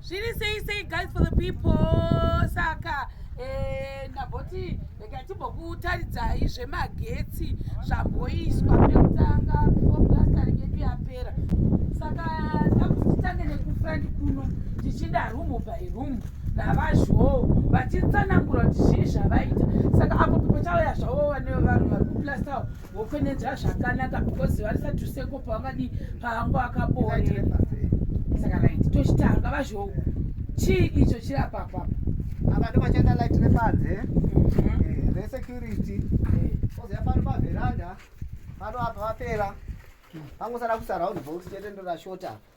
zviri sei sei guys for the people saka eh, ndamboti regai timbokutaridzai zvemagetsi zvamboiswa pekutanga fomulasitari yedu yapera saka ndakuzitange nekufrandi kuno tichida rumu by rumu navazhoo vachitsanangura kuti zvii zvavaita saka apo pachauya zvavo vane vanhu vari kuplastawo wofenedza zvakanaka because varisati seko pavakadi paango akaboe saka right tochitanga vazvo chii icho chiri apapapa ava ndo vachaita light repanze mhm. eh, resecurity eh. kozoya pano paveranda pano apa vapera pangosada kusaraund box chete ndorashota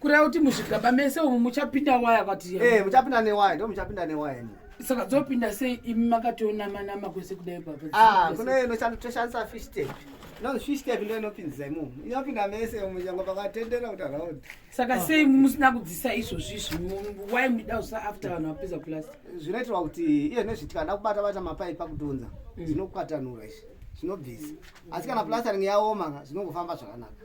kureva kuti muzvigaba mese umu muchapinda waya kwati eh, muchapinda newaya ndo muchapinda newaya imi saka dzopinda sei imi makatonama nama kwese kudai baba ah, kune inotoshandisa fish tape inonzi fish tape ndo inopinzisa imomu inopinda mese umu chango pakatendera kuti araud saka ah. sei musina kudzisa izvozvi izvi why muida usa after vanhu vapedza plus zvinoitirwa kuti iye nezvitika nda kubata bata mapaipi akutonza mm. zvinokwatanura izvi zvinobvisa asi kana plastering yaoma zvinongofamba zvakanaka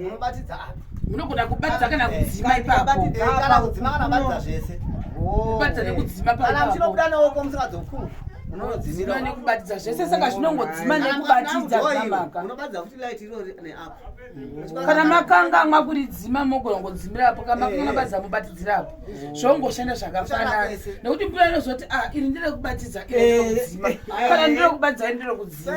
munobatidza apa munogona kubatidza kana eh, kudzima ipapokana eh, kudzima kana batidza zvese kubatidza nekudzima kana muchinobuda neoko musingadzokumu unodzima nekubatidza zvese saka zvinongodzima nekubatidza unobatidza futi light iro neapo kana makangamwa kuridzima mogona kungodzimira apo kana makangamwa eh. batidza mobatidzira apo mm. zvongoshanda zvakafanana nekuti mvura inozoti ah, iri ndire kubatidza iri ndire kudzima kana ndire kubatidza iri ndire kudzima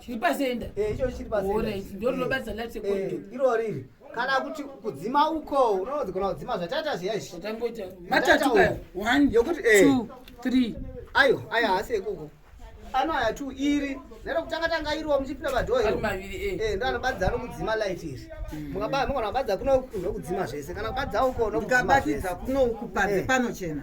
chiri pasenda eh, icho chiri pasendandonobasa eh, late eh, iro riri kana kuti kudzima uko unogona kudzima zvatata zviya izvi yokuti ayo ayo haasi ekuko ano aya two iri nero kutanga tanga iriwo muchipinda padhoo iro ndo anobadza anokudzima light iri hmm. mukabaa mukona kubadza kuno ndokudzima zvese kana kubadza uko ndokubatidza kuno kupadze panochena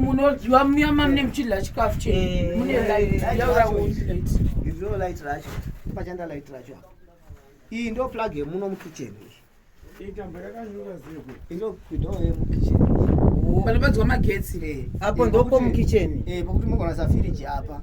munodyiwa muya mamune muchidya chikafu chemune eh, light eh, yaura izvo light racho pachanda light racho iyi ndo plug yemuno mukitchen panobadziwa magetsi eh, apo ndopo mukitchen pokuti mogona safiriji apa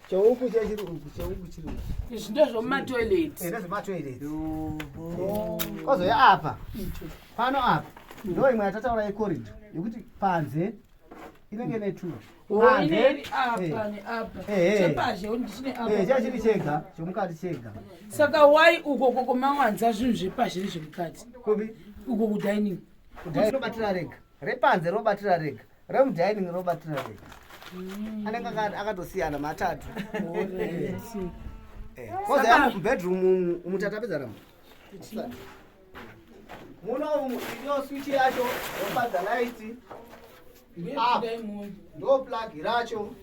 Cheuku chiri uku, cheuku chiri uku. Izvi ndezvomumatoilet. Eh, ndezvematoilet. Kwazouya apa. Pano apa. Ndo imwe yatataura yecorridor yekuti panze inenge ne two. Panze. Eh. Eh, eh. Chachiri chega, chomukati chega. Saka why uko koko mawanza zvinhu zvepazhe nezvemukati? Kubi? Uko kudining. Kudining robatira rega. Repanze robatira rega. Ram dining robatirana here? Mm. Anenge akatosiyana matatu. Eh, kozi yamu mubedroom umu tatapedza rama. Muno umu iyo switch yacho yobadza light. Ah, ndo plug racho.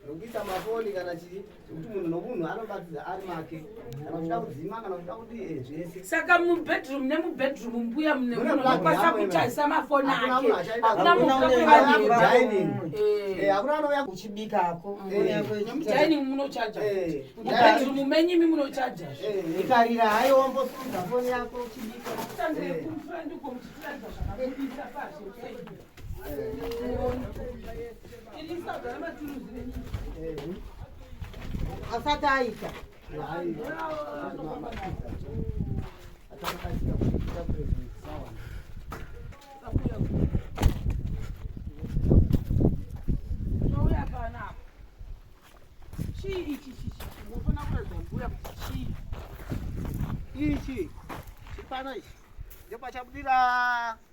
nokuisa mafoni kana chii zvekuti munhu nomunhu anobatidza ari make kana uchida kudzima kana uchida kudii eh, zvese saka mubedroom nemubedroom mbuya mune munhu anokwanisa kuchaisa mafoni ake hakuna muainin eh. eh, hakuna anouya kuchibikako mudining munochaja mubedroom menyimi munochaja ikarira hai wombosunza foni yako uchibika asati aita ichi chipana ichi ndopachabudirira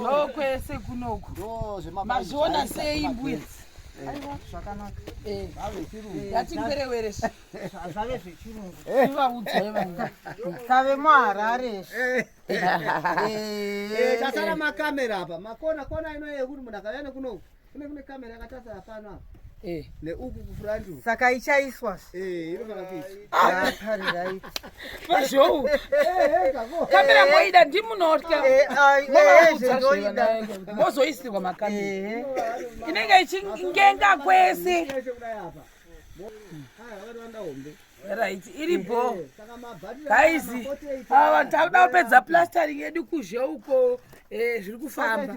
ndokwese kunoku mazviona sei mbuya yatimberewerezvave zvechirungu ivaudzai vanga tave muharare tasara makamera apa makona kona inoyekuti munhu akavya nekunoku kune kune kamera yakatarisa pano apa eh. neuku kufront saka ichaiswa eh inofana kuiswa pari ah, right pazhou eh, eh, kamera moida ndimunotya mozoisirwa makamera inenge ichingenga kwese right iri bho guys ava vanhu takuda kupedza plastering yedu kuzhe uko zviri kufamba